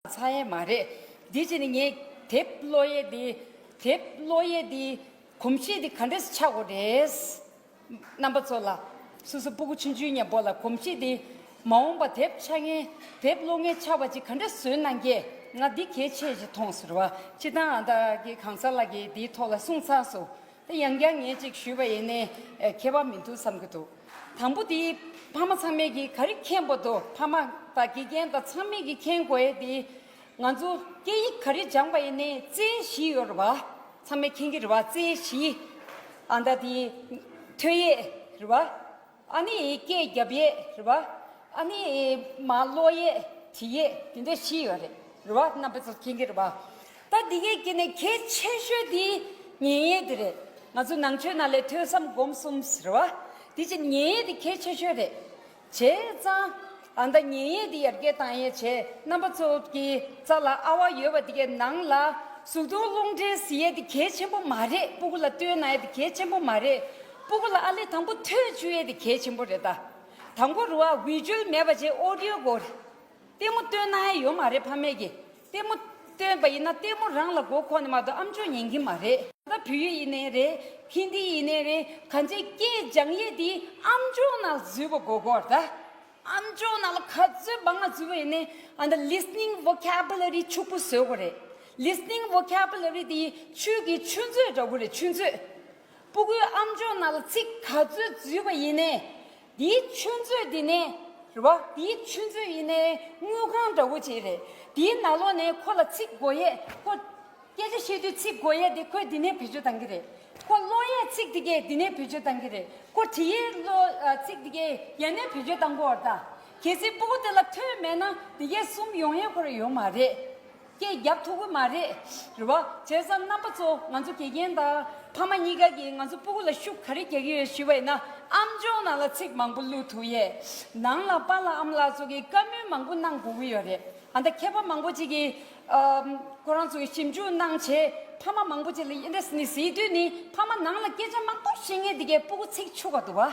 ཚང་ཡས་མ་རེད། དེ་བྱས་ནས་ངས་དེབ་བློ་ཡས་དེ། དེབ་བློ་ཡས་དེ། གོམས་གཤིས་དེ་ག་འདྲས་ཆགས་དགོས་རེད། རྣམ་པ་ཚོ་ལ། སོ་སོ་སྤུ་གུ་ཆུན་ཆུན་ཉན་པོ་ལ་གོམས་གཤིས་དེ། མ་འོངས་པ་དེབ་ཆགས་ངན། དེབ་བློ་ངན་ཆགས་པ་ཅིག་ག་འདྲས་བཟོས་གནང་རྒྱས་ང་འདི་གལ་ཆེ་ཞེས་མཐོང་ཟེར་བ། ཕྱི་དང་ཨ་མདའ་གི་གང་ཟག་ལགས་ཀྱིས་དེའི་ཐོག་ལ་གསུངས་ཚགས་སོ། དེ་ཡང་བསྐྱར་ཉེས་གཅིག་ཞུས་པ་ཡིན་ནི་མཁས་པ་མི་འདུག་བསམ་གྱི་འདུག་དང་པོ་དེ་ཕ་མ་ཚང་མས་ཀྱིས་ག་རེ་མཁྱེན་པོ་འདུག་ཕ་མ་དང་དགེ་རྒན་དང་ཚང་མས་ཀྱིས་མཁྱེན་དགོས་ཡས་དེ་ང་ཚོ་སྐད་ཡིག་ག་རེ་སྦྱངས་པ་ཡིན་ནི་རྩེ་གཞི་ཡོད་རེད་བ་ཚང་མས་མཁྱེན་གྱི་རེད་བ་རྩེ་གཞི་ཨ་མདའ་དེ་ཐོས་ཡས་རེད་བ། ཨ་ནི་ཡི་གེ་རྒྱབ་ཡས་རེད་བ། ཨ་ནི་ཡི་མ་གློག་ཡས་དྲི་ཡས་དེ་འདྲ་བཞི་ཡོད་རེད་རེད་བ་རྣམ་པ་ཚོ་མཁྱེན་གྱི་རེད་བ། ད་འདི་གའི་དཀྱིལ་ནས་གལ་ཆེ་ཤོས་དེ་ཉན་ཡས་དེ་རེད། ང་ཚོ་ནང་ཆོས་ནང་ལས་ཐོས་བསམ་སྒོམ་གསུམ་རེད་བ། དེ་ཕྱིར་ཉན་ཡས་དེ་གལ་ཆེ་ཤོས་རེད། བྱས་ཙང། ཨ་མདའ་ཉན་ཡས་འདི་ཡར་རྒྱས་དང་ཡས་བྱས་རྣམ་པ་ཚོ་གི་རྩ་ལ་ཨ་བ་ཡོད་པ་འདི་གའི་ནང་ལ་ཟུག་རྡུང་རླུང་འདྲེན་ཟི་ཡས་འདི་གས་ཆེན་པོ་མ་རེད་སྤུ་གུ་ལ་བསྟོད་ན་ཡས་འདི་གས་ཆེན་པོ་མ་རེད་སྤུ་གུ་ལ་ཨ་ལེ་དང་པོ་ཐོད་བཅུ་ཡས་འདི་གས་ཆེན་པོ་རེད་ད་དང་པོ་རུ་ཨ་བྷི་ཇུལ་མེད་པ་བྱས་ཨོ་རིའོ་གོ་རེད་ལྟད་མོ་བསྟོད་ན་ཡས་ཡོད་མ་རེད་ཕ་མེས་ཀྱི། ལྟད་མོ། སྟོན་པ་ཡིན་ན་ལྟད་མོ་རང་ལ་མགོ་འཁོར་ནས་མ་གཏོགས་ཨམ་ཆོས་ཉན་གྱིན་མ་རེད། ད་བོད་ཡིག་ཡིན་ནའི་རེད། ཧིན་དི་ཡིན་ནའི་རེད། གང་ཅིའི་སྐད་སྦྱང་ཡས་དེ་ཨམ་ཆོས་ནང་བརྫུས་པ་མགོ་འཁོར་ད། ཨམ་ཆོས་ནང་ལ་ག་ཚོད་འབངས་ལ་བརྫུས་པ་ཡིན་ནའི་ཨ་མདའ Listening Vocabulary ཕྱུག་པོ་བཟོས་དགོས་རེད། Listening Vocabulary དེ་ཡིས་ཆོས་ཀྱི་ཆུ་མཛོད་འདྲ་བོ་རེད་ཆུ་མཛོད། སྤུ་གུའི་ཨ་མཆོག་རྣམས་ལ་ཚིག་ག་ཚོད་བརྫུས་པ་ཡིན་ནས། དེའི་ཆུ་མཛོད་འདི་ནས་རེད་བ། དེའི་ཆུ་མཛོད་ཡིན་ནས་དངུལ་ཁང་འདྲ་བོ་ཅིག་རེད། དེའི་ནག་ལོགས་ནས་ཁོ་ལ་ཚིག་མགོ་ཡས་ཁོ། སྐད་ཆ་བཤད་དུས་ཚིག་མགོ་ཡས་དེ་ཁོས་འདི་ནས་བེད་སྤྱོད་གཏང་གི་རེད། ཁོ་གློག་ཡས་ཚིག་འདི་གས་འདི་ནས་བེད་སྤྱོད་གཏང་གི་རེད། ཁོ་གྲི་ཡས་ཚིག་འདི་གས་ཡ་ནས་བེད་སྤྱོད་གཏང་གོ་ར་ད། གལ་སྲིད་སྤུ་གུ་དེ་ལ་ཐོས་མེད་ན་དེ་གས་གསུམ་ཡོང་ཡས་ཁོ་ར་ཡོད་མ་རེད། སྐད་རྒྱག་ཐུབ་ཀི་མ་རེད། རེ་བ། བྱས་ཙང་རྣམ་པ་ཚོ་ང་ཚོ་དགེ་རྒན་དང་ཕ་མ་གཉིས་ཀ་གིས་ང་ཚོ་སྤུ་གུ་ལ་ཤུགས་ག་རེ་རྒྱག་གི་ཡོད་ཞུས་པ་ཡིན་ན་ཨམ་ཅོག་ནང་ལ་ཚིག་མང་པོ་བླུགས་ཐུབ་ཡས། ནང་ལ་པ་ལགས་ཨམ་ལགས་ཚོ་གིས་བཀའ་མོལ་མང་པོ་གནང་དགོས་ཀི་ཡོད་རེད་ཨ་མདའ་མཁས་པ་མང་པོ་ཅིག་གིས་ཁོ་རང་ཚོ་གིས་ཞིབ་འཇུག་གནང་བྱས་ཕ་མ་མང་པོ་ཅིག་ལ་དབྱེ་འདྲ་ཟིན་ནི་ཟིན་དུས་ནི་ཕ་མ་ནང་ལ་སྐད་ཆ་མང་པོ་བཤད་ངེས་འདི་གས་སྤུ་གུ་ཚིག་ཆུ་ག་འདུག་ག།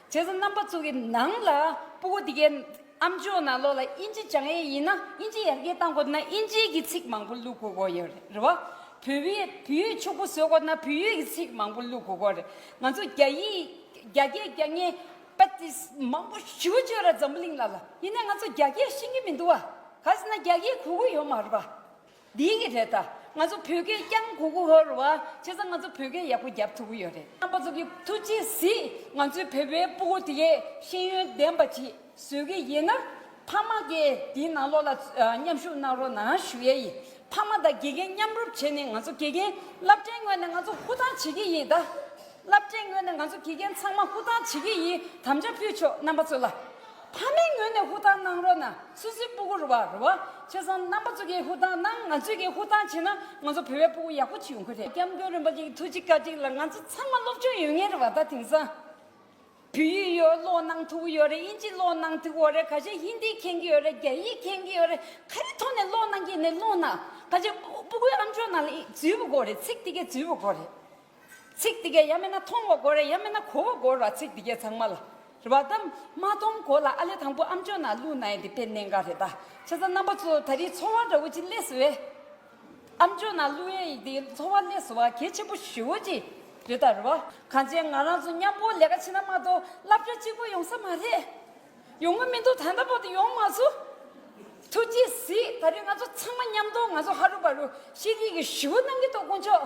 བྱས་ཙང་རྣམ་པ་ཚུགས་ཀྱི་ནང་ལ་སྤུ་གུ་འདི་གའི་ཨམ་ཅོག་ནང་ལོགས་ལ་དབྱིན་ཇི་སྦྱང་ཡས་ཡིན་ན་དབྱིན་ཇི་ཡར་རྒྱས་བཏང་དགོས་འདུག་ན་དབྱིན་ཇིའི་གི་ཚིག་མང་པོ་བླུག་དགོས་དགོས་ཡོད་རེད་བ། བོད་བི་བོད་ཡིག་ཕྱུག་པོ་བཟོས་དགོས་ན་བོད་ཡིག་གི་ཚིག་མང་པོ་བླུག་དགོས་དགོས་རེད་ང་ཚོ་རྒྱ་ཡིག་རྒྱ་སྐད་རྒྱ་སྙན་པདྨ་མང་པོ་ཞུ་བཅོས་ར་འཛམ་བུ་གླིང་ལ་ལ་ཡིན་ན་ང་ཚོ་རྒྱ་སྐད་ཤེས་ཀྱི་མི་འདུག་བ་ག་ཟེ་ན་རྒྱ་སྐད་གོ་གི་ཡོད་མ་རེད་བ། འདི་གི་རེད་ད། ང་ཚོ་བོད་སྐད་རྐྱང་གོ་གོ་ཧོར་བ་བྱས་ཙང་ང་ཚོ་བོད་སྐད་ཡག་པོ་རྒྱབ་ཐུབ་གི་ཡོད་རེད། རྣམ་པ་ཚོ་གི་ཐུགས་རྗེ་གཟིགས་ང་ཚོའི་བོད་པའི་སྤུ་གུ་དེ་གས་ཤེས་ཡོན་ལྡན་པ་གྱིས་བཟོས་གི་ཡིན་ན། ཕ་མ་གས་དེའི་ནང་ལོགས་ལ་མཉམ་ཞུགས་གནང་རོགས་ནང་ཞུ་ཡས་ཡིན་ཕ་མ་དང་དགེ་རྒན་མཉམ་རུབ་བྱས་ནས་ང་ཚོ་དགེ་རྒན་རླབས་ཕྲེང་ངོས་ནས་ང་ཚོ་ཧུར་ཐང་བྱེད་གི་ཡིན་ད། རླབས་ཕྲེང་ངོས་ནས་ང་ཚོ་དགེ་རྒན་ཚང་མ་ཧུར་ཐང་བྱེད་གི་ཡིན་དམ་བཅའ་ཕུལ་ཆོག་རྣམ་པ་ཚོ་ལ། ཕ་མའི་ངོས་ནས་ཧུར་ཐག་གནང་རོགས་ན་སུད་སིའི་སྤུ་གུ་རུ་བ་རུ་བ་ཆོས་བཟང་རྣམ་པ་ཚོ་གིས་ཧུར་ཐག་གནང་ང་ཚོས་ཀྱིས་ཧུར་ཐག་བྱེད་ན་ང་ཚོ་བོད་པའི་སྤུ་གུ་ཡག་པོ་བྱེད་ཡོང་གི་རེད་སྐྱབས་མགོན་རིན་པོ་ཆེ་གི་ཐུགས་རྗེ་བཀའ་དྲིན་ལ་ང་ཚོ་ཚང་མ་སློབ་སྦྱོང་ཡོད་ངེས་རེད་བ་ད་དེང་སང་བོད་ཡིག་ཡོད་ཀློག་གནང་ཐུབ་ཀྱི་ཡོད་རེད་དབྱིན་ཇི་གློག་གནང་ཐུབ་ཀྱི་ཡོད་རེད་ག་ཤེད་ཧིན་དི་མཁྱེན་གྱི་ཡོད་རེད་རྒྱ་ཡིག་མཁྱེན་གྱི་ཡོད་རེད་ག་རེ་ཐོག་ནས་གློག་གནང་གྱི་ནས་གློག་གནང་ག་ཤེད་སྤུ་གུའི་ཨམ་ཆོས་ནང་ལ་ཡིག་རྫུས་པོ་གོ་རེད་ཚིག་དེ་གའི་རྫུས་པོ་གོ་རེད། ཚིག་འདི་གས་ཡ་མེད་ན་མཐོང་བ་གོ་རེ་ཡ་མེད་ན་གོ་བ་གོ་ར་ཚིག་འདི་གས་ཚང་མ་ལ་རེ་བ་དམ་མ་མཐོང་གོ་ལ་ཨ་ལས་དང་པོ་ཨམ་ཅོ་ན་ལུག་ན་ཡེ་འདི་དཔེ་གནད་འགའ་རེ་ད་ཆ་ས་རྣམ་པ་ཚོ་ད་རིའི་འཚོ་བ་འདྲ་བོ་ཅི་ལས་སུ་བས་ཨམ་ཅོ་ན་ལུག་ཡེ་འདི་འཚོ་བ་ལས་སུ་བ་གལ་ཆེན་པོ་ཞུ་བོ་ཅི་རེ་ད་རེ་བ། གང་བྱས་ང་རང་ཚོ་མཉམ་པོ་ལས་ཀ་བྱེད་ན་མ་གཏོགས་བསླབ་བྱ་གཅིག་པོ་ཡོང་ས་མ་རེད། ཡོང་གི་མི་འདུག་ད་ལྟ་བར་དུ་ཡོང་མ་ཚུ། ཐུགས་རྗེ་གཟིགས་ད་རེས་ང་ཚོ་ཚང་མ་མཉམ་གཏོགས་ང་ཚོ་ཧ་རུ་བ་རུ་ཤེས་རིག་གི་ཞུ་བོ་གནང་གི་འདུག་དཀོན་མཆོག།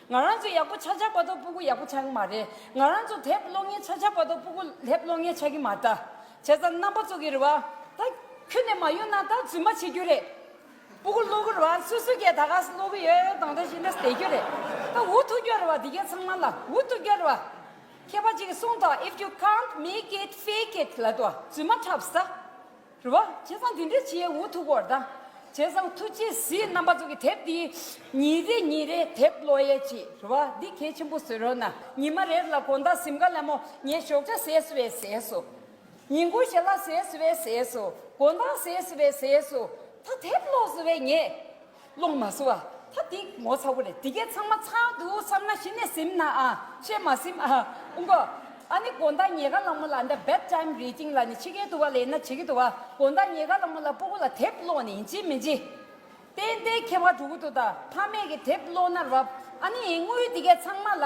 ང་རང་ཚོ་ཡག་པོ་ཆགས་ཆགས་པ་ཐོག་སྤུ་གུ་ཡག་པོ་ཆགས་ཀྱི་མ་རེད་ང་རང་ཚོ་དེབ་ཀློག་ཉན་ཆགས་ཆགས་པ་ཐོག་སྤུ་གུ་ལྷེབ་ཀློག་ཉན་ཆགས་ཀྱི་མ་ད་བྱས་ཙང་རྣམ་པ་ཚོགས་ཀྱི་རེད་བ་ད་ཁྱོད་ནས་མ་ཡོང་ན་ད་རྫུན་མ་བྱེད་རྒྱུ་རེད་སྤུ་གུ་ཀློག་གི་རེད་བ་སུ་སུ་སྐད་ད་ག་ས་ཀློག་གི་ཡོད་ཡོད་དང་ད་བྱས་ནས་བསྡད་རྒྱུ་རེད་ད་འུ་ཐུག་རྒྱུ་རེད་བ་འདི་གའི་ཚང་མ་ལ་འུ་ཐུག་རྒྱུ་རེད་བ་མཁས་པ་གཅིག་གིས་གསུངས་དང if you can't make it fake it ལད་བ་རྫུན་མ་འཁྲབ་ས། རེ་བ། བྱས་ཙང་དེ་འདྲའི་བྱེད་འུ་ཐུག་པོར་གདའ། བྱས་ཙང་ཐུགས་རྗེ་གཟིགས་རྣམ་པ་ཚོ་གི་དེབ་འདི། ཉིན་རེ་ཉིན་རེ་དེབ་ཀློག་ཡས་ཀྱི་རེ་བ་འདི་གལ་ཆེན་པོ་བཟོས་རོགས་གནང། ཉི་མ་རེར་ལ་གོ་མདའ་གཟིམ་ཁ་ལ་མོ་ངས་ཞོགས་ཆ་ཟས་སུ་བས་ཟས་སུ། ཉིན་གུང་ཞལ་ལག་ཟས་སུ་བས་ཟས་སུ་གོ་མདའ་ཟས་སུ་བས་ཟས་སུ། ད་དེབ་ཀློག་སུ་བས་ངས། སློང་མ་ཟུ་ཨ། ད་འདི་ངོ་ཚ་བོ་རེད་འདི་གས་ཚང་མ་ཚང་འདུག་བསམ་ན་གཞི་ནས་སིམ་ན་ཨ་བཤད་མ་སིམ་ཨ། ཨུ་གོ། ཨ་ནི་དགོན་བདག་ཉེ་དགའ་གླང་མོ་ལ་འདའ Bed Time Reading ལ་ནི་ཕྱི་རྒྱལ་དུ་བ་ལེན་ན་བྱེད་ཀྱི་འདུག་ཨ་དགོན་བདག་ཉེ་དགའ་གླང་མོ་ལ་སྤུ་གུ་ལ་དེབ་སློང་ནི་ཡིན་ཅི་མིན་ཅི། ཏན་ཏན་ཁྱེད་བ་ཕྲུ་གུ་དུ་ད་ཕ་མེས་ཀྱི་དེབ་སློང་ན་རབ་ཨ་ནི་ཡིན་དངུལ་འདི་གས་ཚང་མ་ལ།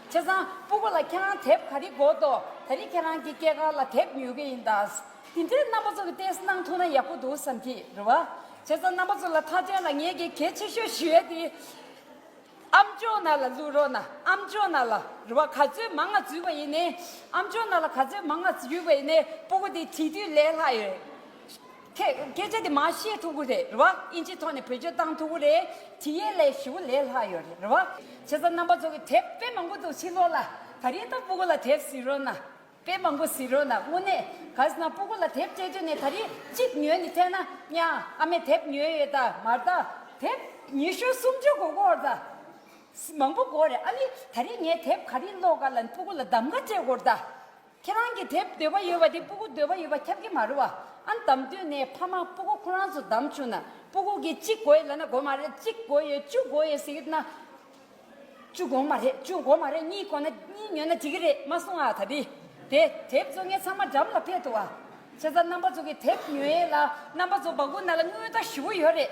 བྱས་ཙང་སྤུ་གུ་ལ་ཁྱེད་རང་དེབ་ག་རེ་འགོ་འདོག་ད་རེས་ཁྱེད་རང་གི་སྐྱེས་སྐར་ལ་དེབ་ཉོས་གི་ཡིན་ད། དེ་འདྲའི་རྣམ་པ་ཚོ་གི་ཏེས་གནང་ཐུག་ན་ཡག་པོ་འདུག་བསམ་གི་རེད་བ། བྱས་ཙང་རྣམ་པ་ཚོ་ལ་ཐག་ཆོད་ན་ངེད་ཀྱི་གལ་ཆེ་ཤོས་ཞུ་ཡ་དེ། ཨ་མཆོག་ན་ལ་བསླུ་རོགས་ན་ཨ་མཆོག་ན་ལ་རེད་བ་ག་ཚོད་མང་ང་བརྫུས་པ་ཡིན་ནའི། ཨ་མཆོག་ན་ལ་ག་ཚོད་མང་ང་བརྫུས་པ་ཡིན་ནའི་སྤུ་གུ་དེ་བྲིས་དུས་ལས་ལྷག་ཡོད། ཁྱེད་སྐད་ཆ་དེ་མ་བཤད་ཐུག་གུ་རེད་རེད་བ་ཨིན་ཇིའི་ཐོག་ནས་བེད་སྤྱོད་བཏང་ཐུག་གུ་རེད་དྲི་ཡའི་ལས་ཞི་བོ་ལས་ལྷག་ཡོད་རེད་རེད་བ། ཆེ་ས་རྣམ་པ་ཚོ་གི་དེབ་དཔེ་མང་པོ་འདུག་ཕྱི་ལོག་ལ་ད་རིང་ད་སྤུ་གུ་ལ་དེབ་ཟིན་རོགས་ན་དཔེ་མང་པོ་ཟིན་རོགས་ན་དངོས་གནས་ག་ས་ན་སྤུ་གུ་ལ་དེབ་སྤྲད་དུས་ནས་ད་རིང་གཅིག་ཉོས་ནས་ཐལ་ན་གཉའ་ཨ་མས་དེབ་ཉོས་ཡོད་ད་མར་ད་དེབ་ཉི་ཤུ་སུམ་ཅུ་གོ་གོ་ད་མང་པོ་གོ་རེད་ཨ་ནི་ད་རིང་ངས་དེབ་ག་རིང་ཀློག་ག་ལ་སྤུ་གུ་ལ་གདམ་ག་སྤྲད་དགོ་ད། ཁྱེད་རང་གི་དེབ་འདོད་པ་ཡོད་པ་དེ་སྤུ་གུ་འདོད་པ་ཡོད་པ་ཁྱབ་ཀྱི་མ་རུ་བ་ཨ་འདམ་དུས་ནས་ཕ་མ་སྤུ་གུ་ཁོ་རང་ཚོ་འདམ་བྱུང་ན་སྤུ་གུ་གི་གཅིག་དགོས་ཡོད་ལབ་ན་དགོས་མ་རེད་གཅིག་དགོས་ཡོད་བཅུ་དགོས་ཡོད་ཟེར་གྱི་ན་བཅུ་དགོངས་མ་རེད་བཅུ་དགོས་མ་རེད་གཉིས་དགོས་ན་གཉིས་ཉོས་ན་དེ་གི་རེད་མ་གསུང་ཨ་ད་དེ་དེ་དེབ་ཚོ་ངས་ཚང་མ་འགྲམ་ལ་ཕེད་འདུག་ཨ་ཆེ་ས་རྣམ་པ་ཚོ་གི་དེབ་ཉོས་ཡས་ལ་རྣམ་པ་ཚོ་བ་གུ་ན་ལ་དངུལ་རྟགས་བཞི་བོ་ཡོད་རེད།